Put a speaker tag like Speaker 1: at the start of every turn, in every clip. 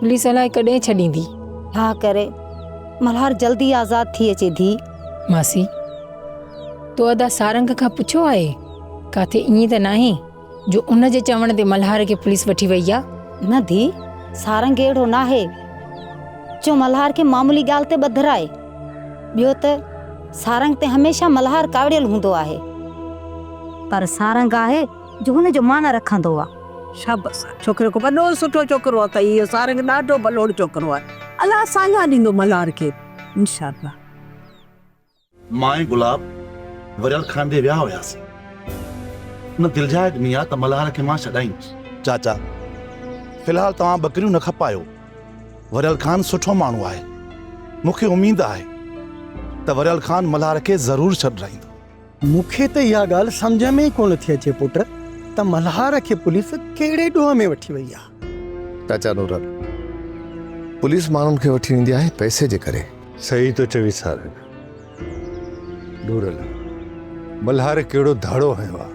Speaker 1: Police الائي ڪڏهن ڇڏيندي. ها ڪري.
Speaker 2: ملهار جلدي آزاد ٿي اچي ڌي. ماسي
Speaker 1: تو ادا سارنگ کان پڇيو آهي؟ ڪاٿي ائين ته ناهي جو ان جي چوڻ تي ملهار کي پوليس وٺي وئي آ؟ نه ڌي
Speaker 2: سارنگ اهڙو ناهي جو ملهار کي معمولي ڳالهه تي ٻڌرائي. ٻيو ته سارنگ تي هميشه ملهار ڪاوڙيل هوندو آهي. پر سارنگ آهي جو هن جو معنيٰ رکندو آ. شابس آ
Speaker 3: ڇوڪري کي وڏو سٺو ڇوڪرو اٿئي اهو سارنگ ڏاڍو ڀلوڙ ڇوڪرو آ الله ساڃاهه ڏيندو ملهار کي انشاء الله.
Speaker 4: مان ۽ گلاب وريل خان ڏي ويا هياسين ان دلجاء ڏني آ ته ملهار کي مان ڇڏائينس. چاچا في الحال توهان ٻڪريون نه کپايو وريل خان سٺو ماڻهو آهي مون کي اميد آهي ته وريل خان ملهار کي ضرور ڇڏرائيندو. مون کي ته اها
Speaker 5: ڳالهه سمجهه ۾ ئي ڪونه ٿي اچي پٽ ته ملهار کي پوليس ڪهڙي ڏوهه ۾ وٺي وئي آهي. چاچا نورل،
Speaker 6: پوليس ماڻهن کي وٺي ويندي آهي پئسي جي ڪري. صحيح ٿو چوين
Speaker 7: سارنگ. نورل، ملهار ڪهڙو ڌاڙو هنيو آهي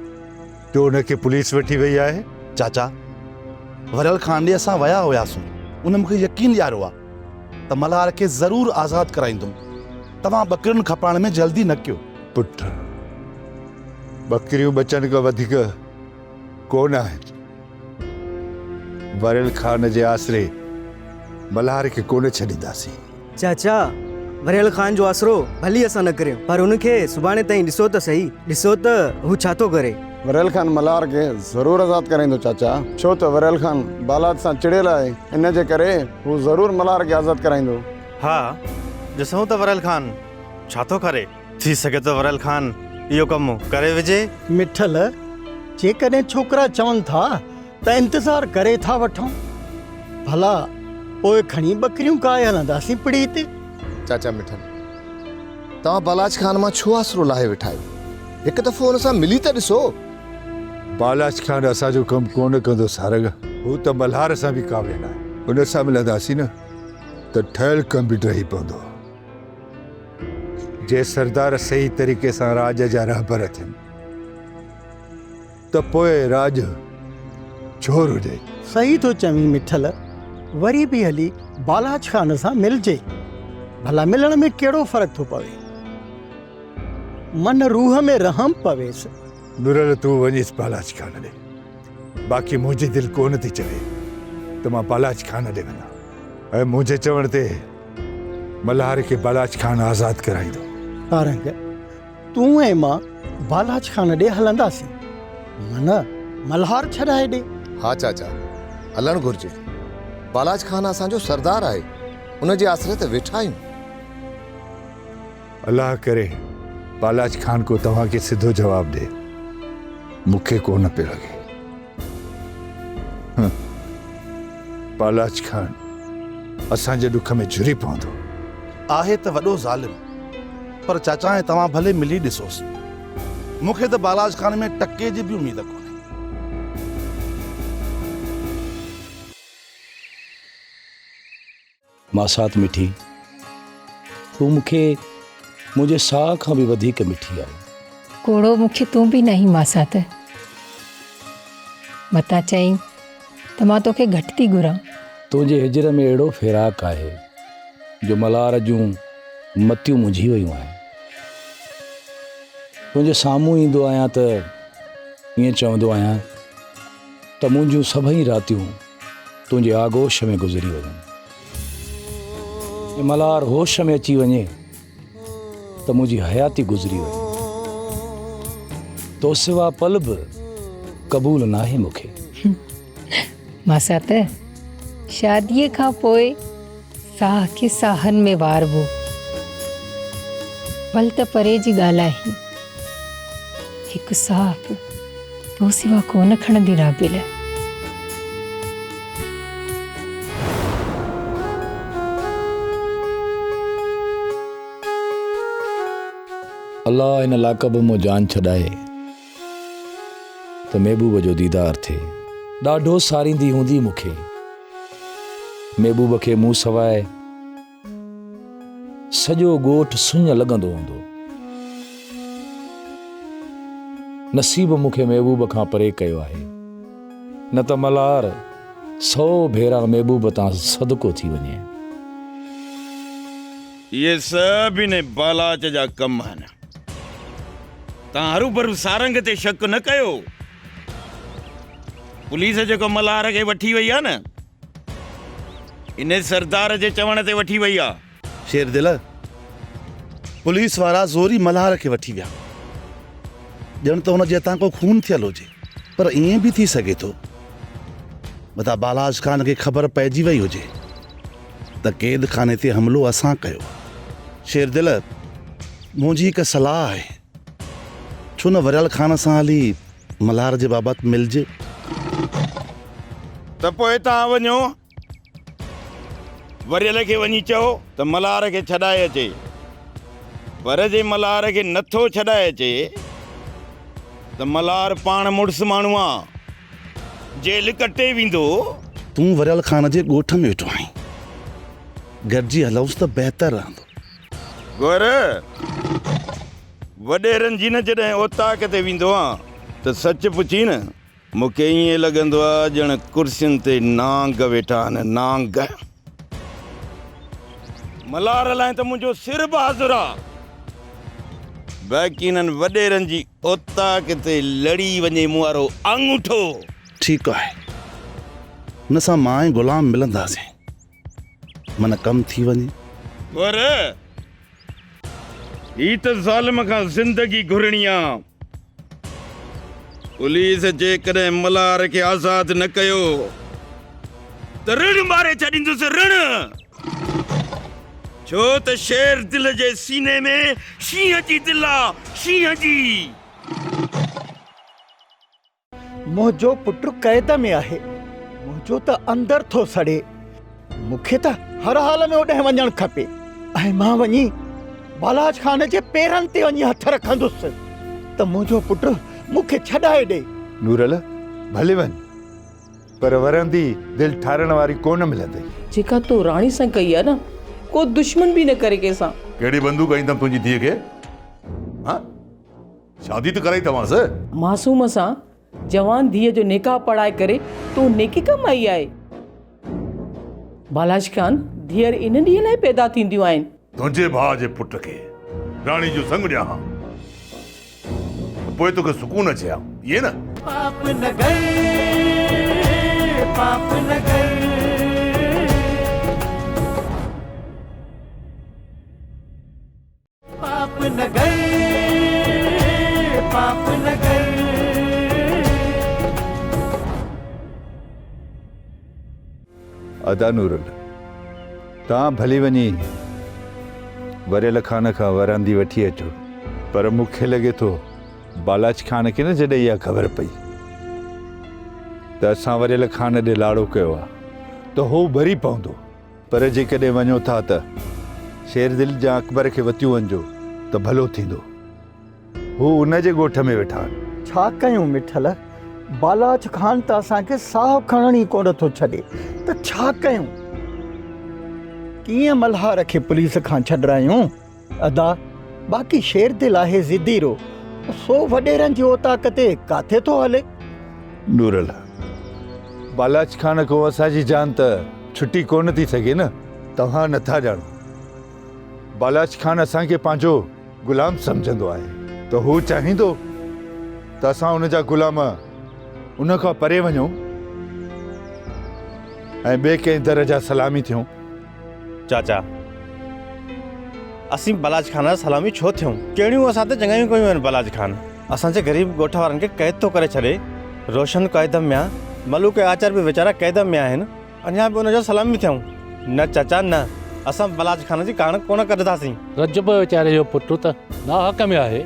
Speaker 7: جو ان کي پوليس وٺي وئي آهي؟ چاچا،
Speaker 4: وريل خان ڏي اسان ويا هياسون. ان مون کي يقين ڏياريو آهي ته ملهار کي ضرور آزاد ڪرائيندم. توهان ٻڪرين کپائڻ ۾ جلدي نه ڪيو. پٺ،
Speaker 7: ٻڪريون ٻچن کان وڌيڪ ڪونه آهن. وريل خان جي آسري ملهار کي ڪونه ڇڏينداسين. چاچا،
Speaker 8: وريل خان جو آسرو ڀلي اسان نه ڪريون پر هن کي سڀاڻي تائين ڏسو ته سهي، ڏسو ته هو ڇا ٿو ڪري. وريل خان ملهار
Speaker 9: کي ضرور آزاد ڪرائيندو چاچا، ڇو ته وريل خان بالاد سان چڙيل آهي، ان جي ڪري هو ضرور ملهار کي آزاد ڪرائيندو. ها،
Speaker 10: ڏسون ته وريل خان ڇا ٿو ڪري؟ ٿي سگهي ٿو وريل خان اهو ڪم ڪري وجهي. مٺل،
Speaker 5: جيڪڏهن ڇوڪرا چون ٿا ته انتظار ڪري ٿا وٺون. ڀلا پوء کڻي ٻڪريون ڪاهي هلنداسين پڙي تي. چاچا مٺل،
Speaker 6: توهان بالاچ خان مان ڇو آسرو لاهي ويٺا آهيو؟ هڪ دفعو هن سان ملي ته ڏسو. بالاچ
Speaker 7: خان اسان جو ڪم ڪونه ڪندو سارنگ. هو ته ملهار سان به ڪاميل آهي. هن سان ملنداسين نه ته ٺهيل ڪم به ڊهي پوندو. جي سردار صحيح طريقي سان راڄ جا رهبر ٿين ته پوء راڄ جھور هجي. صحيح ٿو چوين
Speaker 5: مٺل، وري به هلي بالاچ خان سان ملجي. ڀلا ملڻ ۾ ڪهڙو فرق ٿو پوي. من روح ۾ رحم پويس. نورل تون
Speaker 7: وڃيس بالاچ خان ڏي. باقي منهنجي دل ڪونه ٿي چوي ته مان بالاچ خان ڏي وڃان. ۽ منهنجي چوڻ تي ملهار کي بالاچ خان آزاد ڪرائيندو. سارنگ،
Speaker 5: تون ۽ مان بالاچ خان ڏي هلنداسين. من، ملهار ڇڏائي ڏي. ها چاچا،
Speaker 6: هلڻ گهرجي. بالاچ خان اسان جو سردار آهي. ان جي آسري ته ويٺا آهيون.
Speaker 7: الله ڪري بالاچ خان ڪو توهان کي سڌو جواب ڏي. مون کي ڪو نه پيو لڳي. پالاچ خان اسان جي ڏک ۾ جھري پوندو. آهي ته
Speaker 4: وڏو ظالم پر چاچا ۽ توهان ڀلي ملي ڏسوس. مون کي ته بالاچ خان ۾ ٽڪي جي به اميد ڪونهي.
Speaker 11: ماسات مٺي تون مون کي منهنجي ساهه کان به وڌيڪ مٺي آهي. ڪوڙو مون کي
Speaker 1: تون به ناهين ماسات. متان چئين ته مان توکي گهٽ ٿي گهران. تنهنجي هجر
Speaker 11: ۾ اهڙو فراق آهي جو ملار جون متيون منجهي ويون آهن. تنهنجي سامهون ايندو آهيان ته ائين چوندو آهيان. ته منهنجون سڀئي راتيون تنهنجي آغوش ۾ گذري وڃن ۽ ملهار هوش ۾ اچي وڃي ته منهنجي حياتي گذري وڃي تو سوا پل به قبول ناهي مون کي ماسات
Speaker 1: شاديء کان پوء ساهه کي ساهن ۾ واربو. ول ته پري جي ڳالهائين. هڪ ساهه به تو سوا ڪونه کڻندي رابيل. الله
Speaker 11: ان لاکب مون جان ڇڏائي. ته محبوب جو ديدار ٿئي. ڏاڍو ساريندي هوندي مون کي. محبوب کي مون سواء سڄو ڳوٺ سڃ لڳندو هوندو. نصيب مون کي محبوب کان پري ڪيو آهي. نه ته ملهار سئو ڀيرا محبوب تان صدقو ٿي وڃي.
Speaker 12: اهي سڀ ان بالاچ جا ڪم آهن. توهان هروڀرو سارنگ تي شڪ نه ڪيو. پوليس جيڪو ملهار کي وٺي وئي آهي نه، انهي سردار جي چوڻ تي وٺي وئي آهي. شيردل،
Speaker 4: پوليس وارا زوري ملهار کي وٺي ويا. ڄڻ ته هن جي هٿان ڪو خون ٿيل هجي. پر ائين به ٿي سگهي ٿو، متان بالاچ خان کي خبر پئجي وئي هجي. ته قيد خاني تي حملو اسان ڪيو. شيردل، منهنجي هڪ صلاح آهي، ڇو نه وريال خان سان هلي ملهار جي بابت ملجي.
Speaker 12: ته پوء توهان وڃو، وريل کي وڃي چئو ته ملهار کي ڇڏائي اچي، پر جي ملهار کي نٿو ڇڏائي اچي ته ملهار پاڻ مڙس ماڻهو آ. جيل ڪٽي ويندو. تون وريال
Speaker 4: خان جي ڳوٺ ۾ ويٺو آهين. گڏجي هلئونس ته بهتر رهندو. غور،
Speaker 12: وڏيرن جي نه جڏهن اوطاق تي ويندو آهيان ته سچ پڇين نه مون کي ائين لڳندو آهي ڄڻ ڪرسين تي نانگ ويٺا آهن، نانگ. ملار لاء ته منهنجو سر به حاضر آ. باقي انهن وڏيرن جي اوطاق تي لڙي وڃي مون وارو آڱوٺو. ٺيڪ آهي.
Speaker 4: هن سان مان ۽ غلام ملنداسين. من ڪم ٿي وڃي. پر
Speaker 12: هي ته ظالم کان زندگي گهرڻي آ. پوليس جيڪڏهن ملهار کي آزاد نه ڪيو ته رڙ ماري ڇڏيندس رڙ. ڇو ته شير دل جي سيني ۾ شينهن جي دل آ شينهن جي.
Speaker 5: منهنجو پٽ قيد ۾ آهي، منهنجو ته اندر ٿو سڙي، مون کي ته هر حال ۾ اوڏانهن وڃڻ کپي ۽ مان وڃي بالاچ خان جي پيرن تي وڃي هٿ رکندس ته منهنجو پٽ مون کي ڇڏائي ڏئي. نورل،
Speaker 7: ڀلي وڃ، پر ورندي دل ٺارڻ واري ڪونه ملندئي. جيڪا تو راڻي
Speaker 13: سان ڪئي آهي نه، ڪو دشمن به نه ڪري ڪنهن سان. ڪهڙي بندوق هنئي اٿم
Speaker 7: تنهنجي ڌيء کي؟ ها؟ شادي ته ڪرائي توهانس. معصوم سان
Speaker 13: جوان ڌيء جو نڪاح پڙهائي ڪري تون نيڪي ڪمائي آهي. بالاش خان، ڌيئر ان ڏينهن لاء پيدا ٿينديون آهن. تنهنجي ڀاء جي
Speaker 7: پٽ کي راڻي جو سڱ ڏيان ها ته پوء توکي سڪون اچي ها، ائين نه؟ پاپ نگر
Speaker 14: پاپ نگر.
Speaker 7: ادا نورل توهان ڀلي وڃي وريل خان کان وراندي وٺي اچو پر مون کي لڳي ٿو بالاچ خان کي نه جڏهن اها خبر پئي ته اسان وريل خان ڏي لاڙو ڪيو آهي ته هو ڀري پوندو پر جيڪڏهن وڃو ٿا ته شيردل جا اڪبر کي وتيون وڃجو ته ڀلو ٿيندو. هو ان جي ڳوٺ ۾ ويٺا آهن. ڇا ڪيون مٺل؟
Speaker 5: بالاچ خان ته اسان کي ساهه کڻڻ ئي ڪونه ٿو ڇڏي ته ڇا ڪيون؟ ڪيئن ملهار کي پوليس کان ڇڏرايون؟ ادا، باقي شير دل آهي ضدي رو، سو وڏيرن جي اوطاق تي ڪاٿي ٿو هلي؟ نورل،
Speaker 7: بالاچ خان کان اسان جي جان ته ڇٽي ڪونه ٿي سگهي نه. توهان نٿا ڄاڻو، بالاچ خان اسان کي پنهنجو غلام سمجهندو آهي ته هو چاهيندو ته اسان ان جا غلام ان کان پري وڃون ۽ ٻئي ڪنهن در جا سلامي ٿيون. چاچا،
Speaker 10: اسين بلاچ خان جا سلامي ڇو ٿيون؟ ڪهڙيون اسان تي چڱايون ڪيون آهن بلاچ خان؟ اسان جي غريب ڳوٺ وارن کي قيد ٿو ڪري ڇڏي، روشن قيد ۾ آ، ملوڪ ۽ آچر به ويچارا قيد ۾ آهن، اڃا به ان جا سلامي ٿيون؟ نه چاچا نه، اسان بلاچ خان جي ڪاڻ ڪونه ڪڍنداسين. رجب ويچاري جو
Speaker 11: پٽ ته ناحق ۾ آهي،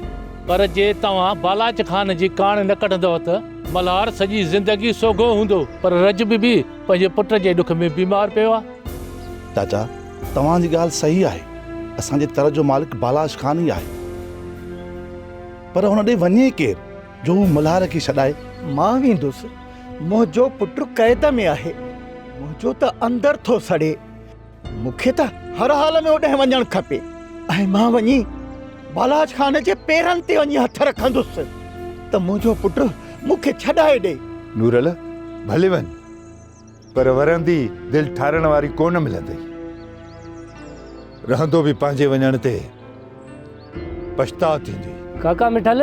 Speaker 11: پر جي توهان بلاچ خان جي ڪاڻ نه ڪڍندؤ ته ملهار سڄي زندگي سوگهو هوندو، پر رجب به پنهنجي پٽ جي ڏک ۾ بيمار پيو آ. چاچا
Speaker 4: توهان جي ڳالهه صحيح آهي اسان جي تر جو مالڪ بالاش خان ئي آهي پر هن ڏي وڃي ڪير جو هو
Speaker 5: ملهار کي
Speaker 4: ڇڏائي. مان
Speaker 5: ويندس منهنجو پٽ
Speaker 4: قيد
Speaker 5: ۾
Speaker 4: آهي
Speaker 5: منهنجو ته اندر ٿو سڙي مون کي ته هر حال ۾ اوڏانهن وڃڻ کپي ۽ مان وڃي بالاش خان جي پيرن تي وڃي هٿ رکندس ته منهنجو پٽ مون کي ڇڏائي ڏي. نورل
Speaker 7: ڀلي وڃ. پر ورندي دل ٺارڻ واري ڪونه ملندئي. رهندو به پنهنجي وڃڻ تي پڇتاء ٿيندئي. ڪاڪا مٺل!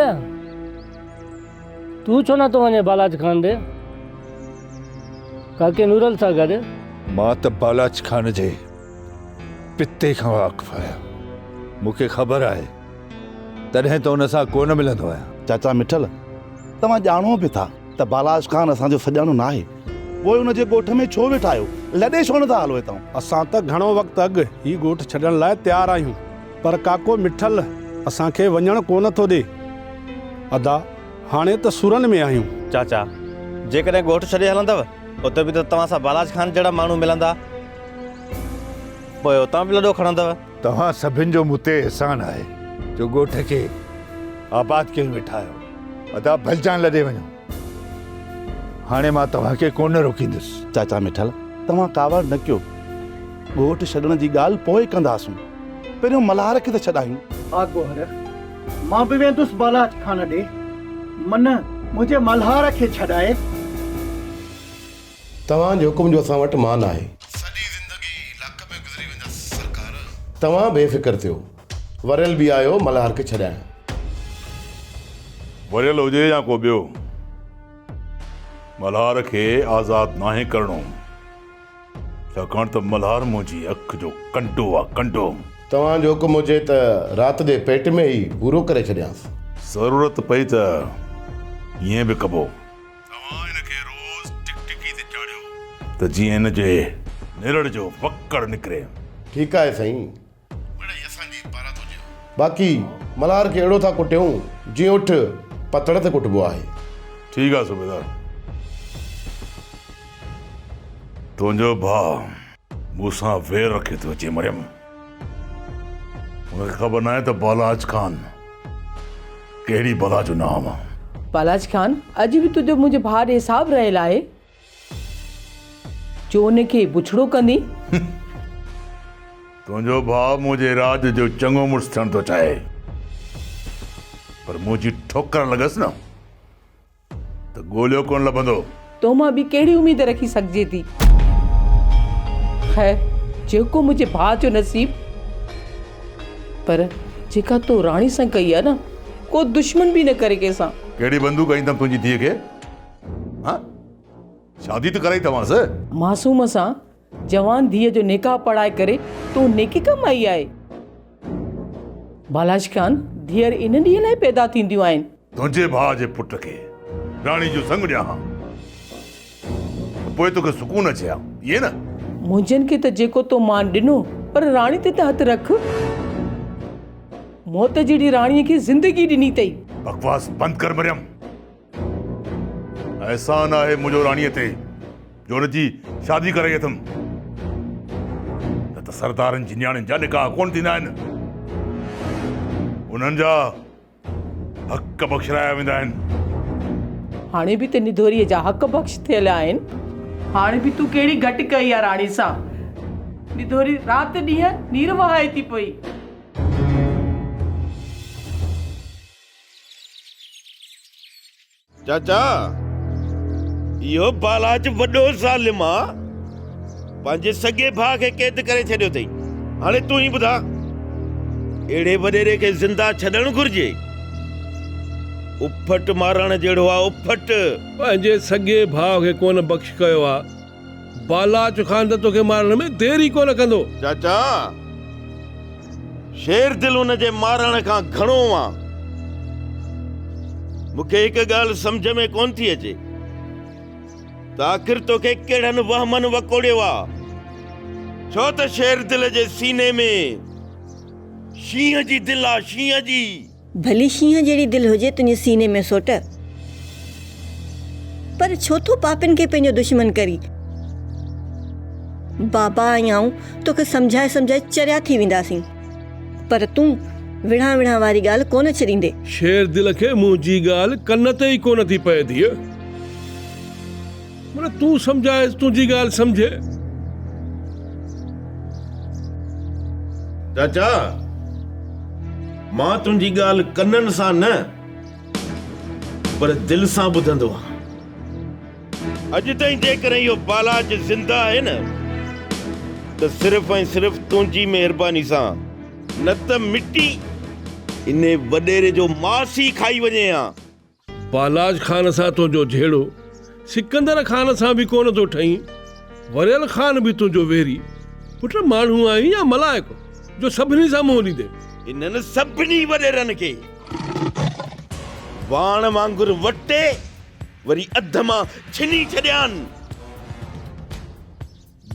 Speaker 15: تون ڇو نه ٿو وڃين بالاچ خان ڏي؟ ڪاڪي نورل سان گڏ. مان ته
Speaker 7: بالاچ خان جي پتي کان واقف آهيان. مون کي خبر آهي. تڏهن ته ان سان ڪونه ملندو آهيان. چاچا مٺل!
Speaker 4: توهان ڄاڻو به ٿا ته بالاچ خان اسان جو سڄاڻو ناهي. پوء ان جي ڳوٺ ۾ ڇو ويٺا آهيو؟ لڏي ڇو نٿا هلو هتان؟ اسان ته گهڻو وقت
Speaker 16: اڳ هي ڳوٺ ڇڏڻ لاء تيار آهيون، پر ڪاڪو مٺل اسان کي وڃڻ ڪو نه ٿو ڏي. ادا، هاڻي ته سورن ۾ آهيون. چاچا،
Speaker 10: جيڪڏهن ڳوٺ ڇڏي هلندؤ، اتي به ته توهان سان بالاچ خان جهڙا ماڻهو ملندا. پوء اتان به لڏو کڻندؤ. توهان سڀن جو
Speaker 7: مون تي احسان آهي، جو ڳوٺ کي آباد ڪيو ويٺا آهيو. ادا، ڀلجان لڏي وڃو. هاڻي مان توهان کي ڪونه روڪيندس. چاچا مٺل
Speaker 4: توهان ڪاوڙ نه ڪيو. ڳوٺ ڇڏڻ جي ڳالهه پوء ڪنداسون. پهريون ملهار کي ته ڇڏايون. آ گوهر،
Speaker 5: مان به ويندس بالاچ خان ڏي. من منهنجي ملهار کي ڇڏاء.
Speaker 17: توهان جي حڪم جو اسان وٽ مان آهي. سڄي زندگي لڪ ۾ گذري ويندس سرڪار. توهان بي فڪر ٿيو. وريل به آيو ملهار کي ڇڏائڻ.
Speaker 18: وريل هجي يا ڪو ٻيو. ملهار کي آزاد ناهي ڪرڻو. ڇاڪاڻ ته ملهار منهنجي اک جو ڪنڊو آ ڪنڊو. توهان جو حڪم
Speaker 17: هجي ته رات جي پيٽ ۾ ئي پورو ڪري ڇڏيانس. ضرورت پئي
Speaker 18: ته ائين به ڪبو. توهان هن کي روز ٽڪٽڪي تي چاڙهيو. ته جيئن هن جي نرڙ جو وڪڙ نڪري. ٺيڪ آهي سائين.
Speaker 17: باقي ملهار کي اهڙو ٿا ڪٽيون جيئن اٺ پتڻ تي ڪٽبو آهي. ٺيڪ آهي صوبيدار.
Speaker 18: تنهنجو ڀاء مون سان وير رکي ٿو اچي مريم. هن کي خبر ناهي ته بالاچ خان ڪهڙي بلا جو نام آ. بالاچ خان
Speaker 13: اڄ به تنهنجو منهنجي ڀاء ڏي حساب رهيل آهي. جو ان کي بڇڙو ڪندين.
Speaker 18: تنهنجو ڀاء منهنجي راڄ جو چڱو مڙس ٿيڻ ٿو چاهي، پر منهنجي ٺوڪر لڳس نه ته ڳوليو ڪونه لڀندو. تو مان ٻي ڪهڙي
Speaker 13: اميد رکي سگهجي ٿي. خير جيڪو منهنجي ڀاء جو نصيب. پر جيڪا تو راڻي سان ڪئي آهي نه، ڪو دشمن به نه ڪري ڪنهن سان. ڪهڙي بندوق هنئي اٿم
Speaker 18: تنهنجي ڌيء کي؟ ها شادي ته ڪرائي توهانس معصوم سان
Speaker 13: جوان ڌيء جو نڪاح پڙهائي ڪري تون نيڪي ڪمائي آهي بالاش خان ڌيئر ان ڏينهن لاء پيدا ٿينديون آهن تنهنجي ڀاء جي
Speaker 18: پٽ کي راڻي جو سڱ ڏيان ها ته پوء توکي سڪون اچي ها ائين نه منهنجن کي ته
Speaker 13: جيڪو تو مان ڏنو پر راڻي تي ته هٿ رک موت جهڙي راڻي کي زندگي ڏني اٿئي بڪواس بند
Speaker 18: ڪر مريم احسان آهي منهنجو راڻيء تي جو ان جي شادي ڪرائي اٿم نه ته سردارن جي نياڻين جا نڪاح ڪون ٿيندا آهن انهن جا حق بخشرايا ويندا آهن هاڻي به ته نڌوريء
Speaker 13: جا حق بخش ٿيل آهن هاڻي به تون ڪهڙي گهٽ ڪئي آ راڻي سان نڌوري رات ڏينهن نير وهائي ٿي پئي
Speaker 12: چاچا اهو بالاچ وڏو ظالم آ پنهنجي سڳي ڀاء کي قيد ڪري ڇڏيو اٿئي هاڻي تون ئي ٻڌا اهڙي وڏيري کي زنده ڇڏڻ گهرجي اڦٽ مارڻ جهڙو آ اڦٽ پنهنجي سڳي
Speaker 19: ڀاء کي ڪونه بخش ڪيو آ بالاچ خان ته توکي مارڻ ۾ دير ئي ڪونه ڪندو. چاچا!
Speaker 12: شير دل ان جي مارڻ کان گهڻو آ. مون کي هڪ ڳالهه سمجهه ۾ ڪونه ٿي اچي ته آخر توکي ڪهڙن وهمن وڪوڙيو آ. ڇو ته شير دل جي سيني ۾ شينهن جي دل آ، شينهن جي. ڀلي شينهن
Speaker 20: جهڙي دل هجي تنهنجي سيني ۾ سوٽ پر ڇو ٿو پاپين کي پنهنجو دشمن ڪرين. بابا ۽ آئون توکي سمجهائي سمجهائي چريا ٿي وينداسين پر تون وڙهان وڙهان واري ڳالهه ڪونه ڇڏيندي. شير دل کي
Speaker 19: منهنجي ڳالهه ڪن تي ئي ڪونه ٿي پئي ڌيء. مطلب تون سمجھائيس تنهنجي ڳالهه سمجھي.
Speaker 12: چاچا مان تنهنجي ڳالهه ڪنن سان نه پر دل سان ٻڌندو آهيان. اڄ تائين جيڪڏهن اهو بالاچ زنده آهي نه ته صرف ۽ صرف تنهنجي مهرباني سان. نه ته مٽي انهي وڏيري جو ماس ئي کائي وڃي ها. پهلاج
Speaker 19: خان سان تنهنجو جهيڙو سڪندر خان سان به ڪونه ٿو ٺهين. وريل خان به تنهنجو ويري پٽ ماڻهو آهين يا ملائڪ جو سڀني سان منهن ليدين. هنن سڀني
Speaker 12: وڏيرن کي واڻ وانگر وٽي وري اڌ مان ڇني ڇڏيان.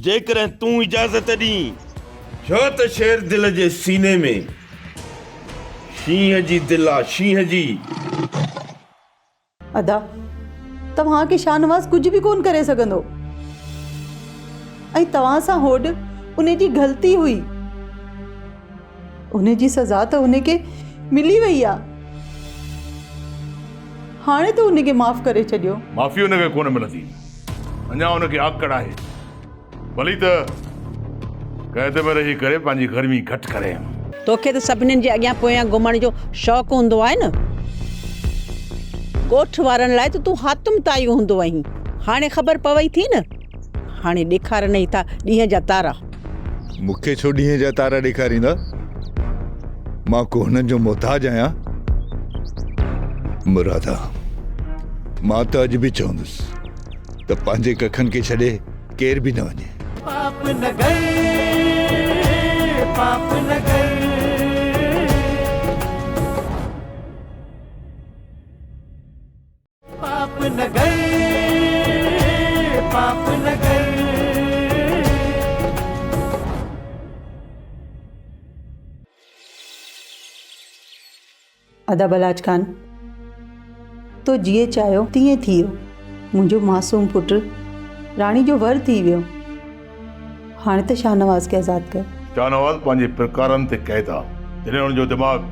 Speaker 12: جيڪڏهن تون اجازت ڏين. ڇو ته شير دل جي سيني ۾. شينهن جي دل آ شينهن جي.
Speaker 13: ادا توهان کي شاهنواز ڪجهه به ڪون ڪري سگهندو ۽ توهان سان هوڏ ان جي غلطي هئي. ان جي سزا ته هن کي ملي وئي آ. هاڻي ته هن کي معاف ڪري ڇڏيو. معافي هن کي ڪونه
Speaker 18: ملندي. اڃا هن کي آڪڙ آهي. ڀلي ته قيد ۾ رهي ڪري پنهنجي گرمي گهٽ ڪرين. توکي ته سڀنين
Speaker 21: جي اڳيان پويان گهمڻ جو شوق هوندو آهي نه. ڳوٺ وارن لاء ته تون حاتم طائي هوندو هئين. هاڻي خبر پوي ٿي نه. هاڻي ڏيکارنئي ٿا ڏينهن جا تارا. مون کي ڇو
Speaker 7: ڏينهن جا تارا ڏيکاريندا؟ مان ڪو هنن جو محتاج آهيان؟ مرادا، مان ته اڄ به چوندس ته پنهنجي ڪکن کي ڇڏي ڪير به نه وڃي. پاپ نگر
Speaker 14: پاپ نگر.
Speaker 13: ادا بلاچ خان تو جيئن چاهيو تيئن ٿي ويو منهنجو معصوم پٽ راڻي جو ور ٿي ويو هاڻي ته شاهنواز کي آزاد ڪر شاهنواز پنهنجي
Speaker 18: پرڪارن تي قيد آ جڏهن هن جو دماغ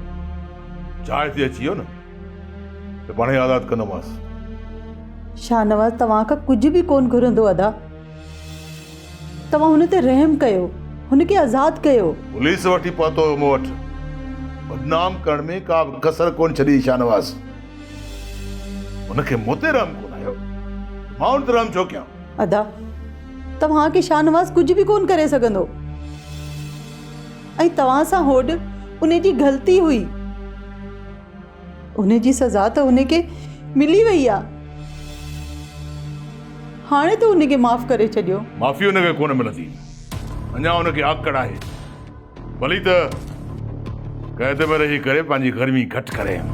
Speaker 18: جاء تي اچي ويو نه ته پاڻهي آزاد ڪندومانس.
Speaker 13: شاهنواز توهان کان ڪجهه به ڪونه گهرندو ادا. توهان هن تي رحم ڪيو. هن کي آزاد ڪيو. پوليس وٺي پهتو
Speaker 18: هيو مون وٽ. بدنام ڪرڻ ۾ ڪا به ڪسر ڪونه ڇڏي شاهنواز. هن کي مون تي رحم ڪونه آيو ته مان هن تي رحم ڇو ڪيان. ادا
Speaker 13: توهان کي شاهنواز ڪجهه به ڪونه ڪري سگهندو. ۽ توهان سان هوڏ ان جي غلطي هئي. ان جي سزا ته ان کي ملي وئي آ. هاڻي ته ان کي معاف ڪري ڇڏيو. معافي ان کي ڪونه
Speaker 18: ملندي. اڃا ان کي آڪڙ آهي. ڀلي ته قيد ۾ رهي ڪري پنهنجي گرمي گهٽ ڪرين.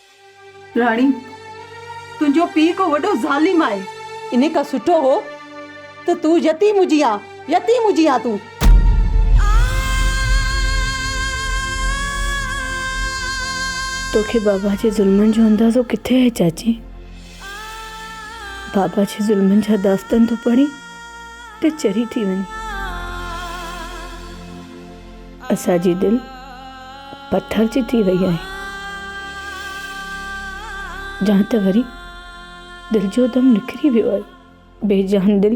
Speaker 13: راڻي، تنهنجو پيء ڪو وڏو ظالم آهي. انهي کان سٺو هو ته تون يتيم هجي ها، يتيم هجي ها تون.
Speaker 1: توکي بابا جي ظلمن جو اندازو ڪٿي آهي چاچي. بابا جي ظلمن جا داستان ٿو پڙهين ته چري ٿي وڃين. اسان جي دل پٿر جي ٿي وئي آهي جان ته وري دل جو دم نڪري ويو آهي بي جان دل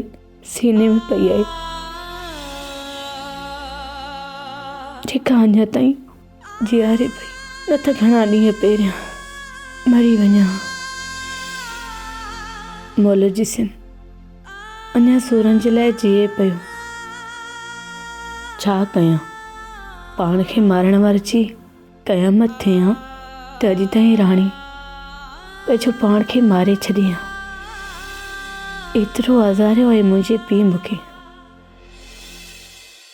Speaker 1: سيني ۾ پئي آهي جيڪا اڃا تائين جياري پئي نه ته گهڻا ڏينهن پهريان مري وڃان مولوي جي سين
Speaker 13: اڃا سورن جي لاء جيئي پيو. ڇا ڪيان؟ پاڻ کي مارڻ واري جي قيامت ٿئي ها ته اڄ تائين راڻي پنهنجو پاڻ کي ماري ڇڏي ها. ايترو آزاريو آهي منهنجي پيء مون کي.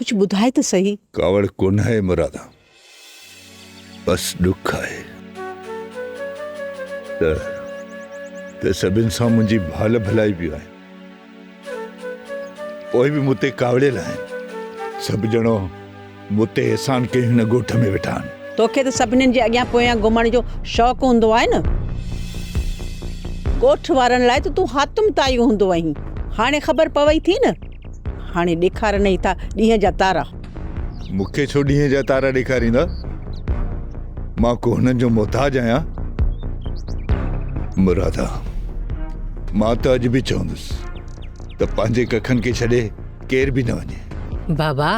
Speaker 21: ڪجهه ٻڌاء ته سهي. ڪاوڙ ڪونهي
Speaker 7: مرادا، بس ڏک آهي ته ته سڀن سان منهنجي ڀال ڀلائي بي آهي، پوء به مون تي ڪاوڙيل آهن. سڀ ڄڻو مون تي احسان ڪيئي هن ڳوٺ ۾ ويٺا آهن. توکي ته سڀنين جي اڳيان
Speaker 21: پويان گهمڻ جو شوق هوندو آهي نه؟ ڳوٺ وارن لاء ته تون حاتم طائي هوندو هئين، هاڻي خبر پوي ٿي نه؟ هاڻي ڏيکارنئي ٿا ڏينهن جا تارا. مون کي ڇو
Speaker 7: ڏينهن جا تارا ڏيکاريندا؟ مان ڪو هنن جو محتاج آهيان؟ مرادا، مان ته اڄ به چوندس ته پنهنجي ڪکن کي ڇڏي ڪير به نه وڃي. بابا،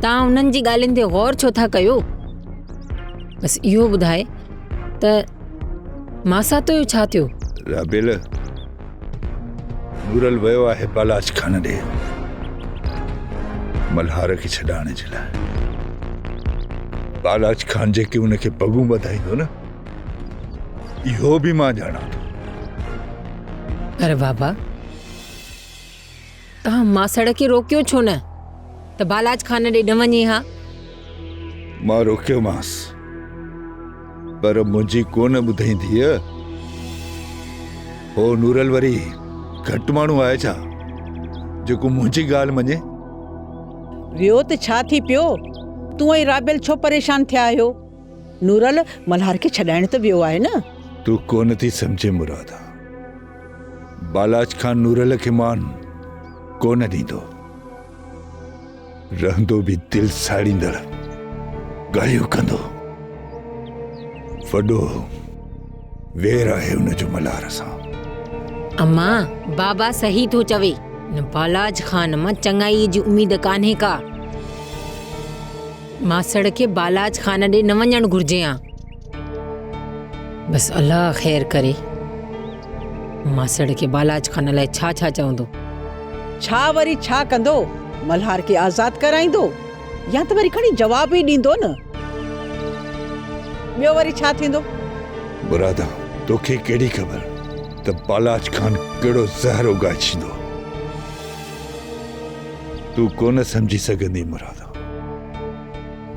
Speaker 1: توهان انهن جي ڳالهين تي غور ڇو ٿا ڪيو؟ بس اهو ٻڌاء ته ماساتو جو ڇا ٿيو؟ رابيل،
Speaker 7: نورل ويو آهي بالاچ خان ڏي ملهار کي ڇڏائڻ جي لاء بالاچ خان جيڪي ان کي پڳون ٻڌائيندو نه اهو به مان ڄاڻان ٿو
Speaker 1: پر بابا تنهن ماسڙ کي روڪيو ڇو نه ته بالاچ خان ڏي نه وڃي ها؟
Speaker 7: مان روڪيومانس پر منهنجي ڪونه ٻڌئي ڌيء. هو نورل وري گهٽ ماڻهو آهي ڇا جيڪو منهنجي ڳالهه مڃي؟
Speaker 21: ويو ته ڇا ٿي پيو؟ تون ۽ رابيل ڇو پريشان ٿيا آهيو؟ نورل ملهار کي ڇڏائڻ ته ويو آهي نه؟ تون ڪونه ٿي
Speaker 7: سمجهين مرادا. بالاچ خان نورل کي مان ڪونه ڏيندو رهندو به دل ساڙيندڙ ڳالهيون ڪندو وڏو وير آهي ان جو ملار سان اما
Speaker 1: بابا صحيح ٿو چوي ان بالاج خان مان چڱائي جي اميد ڪانهي ڪا ماسڙ کي بالاج خان ڏي نه وڃڻ گهرجي ها بس الله خير ڪري ماسڙ کي بالاچ خان لاء ڇا ڇا چوندو ڇا
Speaker 21: وري ڇا ڪندو ملهار کي آزاد ڪرائيندو يا ته وري کڻي جواب ئي ڏيندو نه ٻيو وري ڇا ٿيندو برادا
Speaker 7: توکي ڪهڙي خبر ته بالاچ خان ڪهڙو زهر اگائي ڇيندو تون ڪونه سمجهي سگهندي مرادا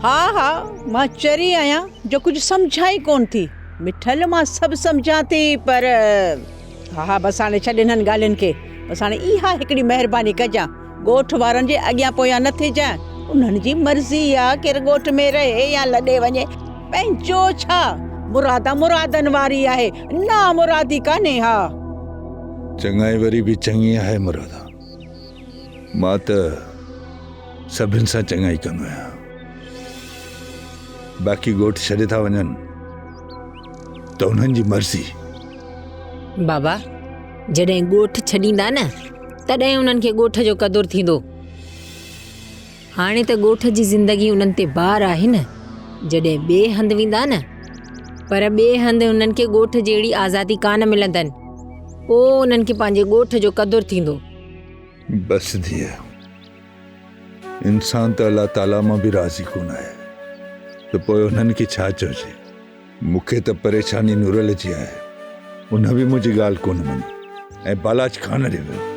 Speaker 21: ها ها مان چري آهيان جو ڪجهه سمجهان ئي ڪونه ٿي. مٺل مان سڀ سمجهان ٿي پر ها ها بس هاڻي ڇڏ انهن ڳالهين کي بس هاڻي اها هڪڙي مهرباني ڪجان ڳوٺ وارن جي اڳيان پويان نه ٿيجان انهن جي مرضي آ ڪير ڳوٺ ۾ رهي يا لڏي وڃي پنهنجو ڇا مراد مرادن واري آهي نامرادي ڪانهي ها.
Speaker 7: چڱائي وري به چڱي آهي مرادا. مان ته سڀن سان چڱائي ڪندو آهيان باقي ڳوٺ ڇڏي ٿا وڃن ته انهن جي مرضي
Speaker 1: بابا جڏهن ڳوٺ ڇڏيندا نه تڏهن انهن کي ڳوٺ جو قدر ٿيندو هاڻي ته ڳوٺ جي زندگي انهن تي بار آهي نه، جڏهن ٻئي هنڌ ويندا نه، پر ٻئي هنڌ انهن کي ڳوٺ جهڙي آزادي ڪانه ملندن، پوء انهن کي پنهنجي ڳوٺ جو قدر ٿيندو. بس
Speaker 7: ڌيء، انسان ته الله تعاليٰ مان به راضي ڪونه آهي ته پوء انهن کي ڇا چئجي. مون کي ته پريشاني نورل جي آهي، ان به منهنجي ڳالهه ڪونه مڃي ۽ بالاچ خانه ڏي ويو.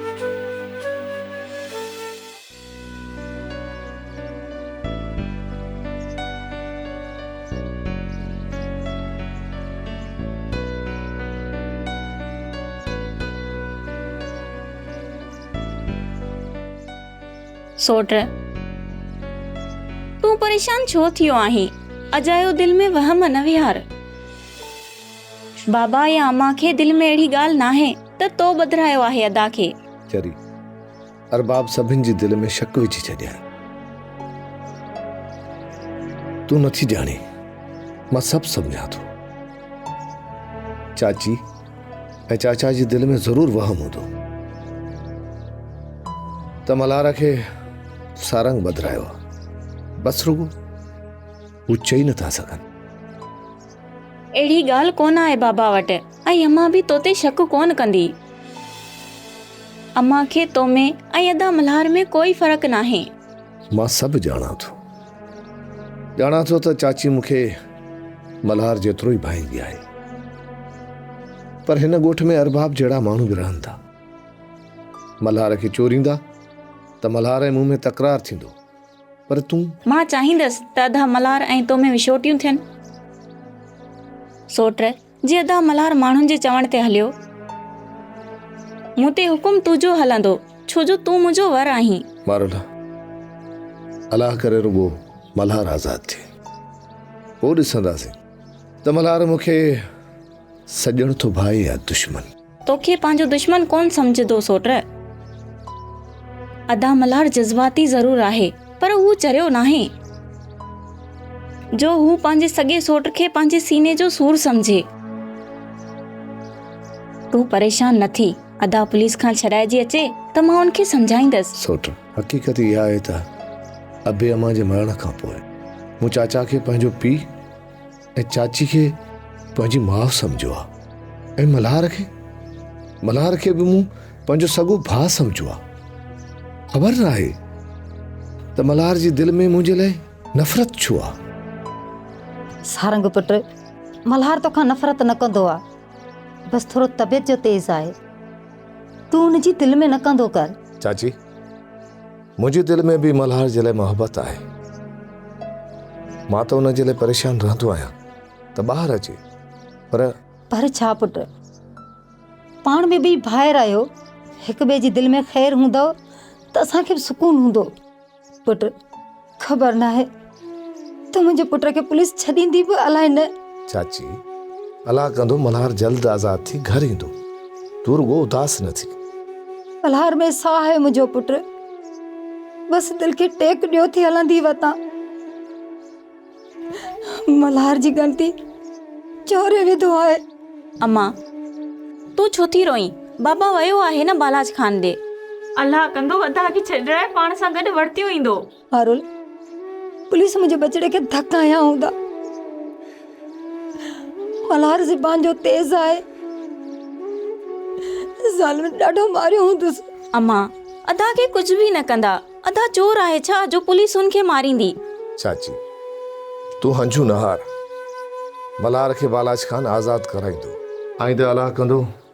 Speaker 2: سوٽ، تون پريشان ڇو ٿيو آهين؟ اجايو دل ۾ وهم نه ويهار. بابا يا اما کي دل ۾ اهڙي ڳالهه ناهي ته تو ٻڌرايو آهي ادا کي. چري، ارباب
Speaker 6: سڀن جي دل ۾ شڪ وجهي ڇڏيائين. تون نٿي ڄاڻين، مان سڀ سمجهان ٿو. چاچي ۽ چاچا جي دل ۾ ضرور وهم هوندو ته ملهار کي سارنگ بدرايو آهي. بس رڳو هو چئي نٿا سگهن.
Speaker 2: اهڙي ڳالهه ڪونه آهي بابا وٽ ۽ امان به تو تي شڪ ڪونه ڪندي. امان کي تو ۾ ۽ ادا ملهار ۾ ڪوئي فرق ناهي. مان سڀ
Speaker 6: ڄاڻان ٿو. ڄاڻان ٿو ته چاچي مون کي ملهار جيترو ئي ڀائيندي آهي. پر هن ڳوٺ ۾ ارباب جهڙا ماڻهو به رهن ٿا. ملهار کي چوريندا ته ملهار ۽ مون ۾ تڪرار ٿيندو. پر تون. مان چاهيندس
Speaker 2: ته ادا ملهار ۽ تو ۾ وڇوٽيون ٿين. سوٽ، جي ادا ملهار ماڻهن جي چوڻ تي هليو. مون تي حڪم تنهنجو هلندو، ڇو جو تون منهنجو ور آهين. مارلا،
Speaker 6: الله ڪري رڳو ملهار آزاد ٿئي. پوء ڏسنداسين ته ملهار مون کي سڄڻ ٿو ڀائي يا دشمن. توکي پنهنجو
Speaker 2: دشمن ڪونه سمجهندو سوٽ. ادا ملهار جذباتي ضرور آهي پر هو چريو ناهي جو هو پنهنجي سڳي سوٽ کي پنهنجي سيني جو سور سمجهي. تون پريشان نه ٿي ادا پوليس کان ڇڏائجي اچي ته مان ان کي سمجهائيندس. سوٽ، حقيقت
Speaker 6: اها آهي ته ابي امان جي مرڻ کانپوء مون چاچا کي پنهنجو پيء، ۽ چاچي کي پنهنجي ماء سمجهيو آ ۽ ملهار کي ملهار کي به مون پنهنجو سڳو ڀاء سمجهيو آ خبر نه آهي ته ملهار جي دل ۾ منهنجي لاء نفرت ڇو آ
Speaker 13: سارنگ پٽ ملهار توکان نفرت نه ڪندو آ بس ٿورو طبيعت جو تيز آهي تون ان جي دل ۾ نه ڪندو ڪر چاچي
Speaker 6: منهنجي دل ۾ به ملهار جي لاء محبت آهي. مان ته ان جي لاء پريشان رهندو آهيان ته ٻاهر اچي پر. پر ڇا پٽ!
Speaker 13: پاڻ به ٻئي ڀائر آهيو، هڪ ٻئي جي دل ۾ خير هوندؤ ته اسان کي به سڪون هوندو. پٽ! خبر ناهي. ته منهنجي پٽ کي پوليس ڇڏيندي به الائي نه. چاچي،
Speaker 6: الله ڪندو ملهار جلد آزاد ٿي گهر ايندو. تون رڳو اداس نه ٿي. ملهار
Speaker 13: ۾ ساهه آهي منهنجو پٽ. بس دل کي ٽيڪ ڏيو ٿي هلندي وتان. ملهار جي ڳڻتي چوري وڌو آهي. اما،
Speaker 2: تون ڇو ٿي روئين؟ بابا ويو آهي نه بالاچ خان ڏي. الله ڪندو ادا کي ڇڏرائي پاڻ سان گڏ ورتيو ايندو. پارول،
Speaker 13: پوليس منهنجي ٻچڙي کي ڌڪ هنيا هوندا. ملهار زبان جو تيز آهي. ظالمن ڏاڍو ماريو هوندس. امان،
Speaker 2: ادا کي ڪجهه به نه ڪندا. ادا چور آهي ڇا جو پوليس هن کي ماريندي. چاچي،
Speaker 6: تون هنجون نه هار. ملهار کي بالاچ کان آزاد ڪرائيندو. آئينده الله ڪندو.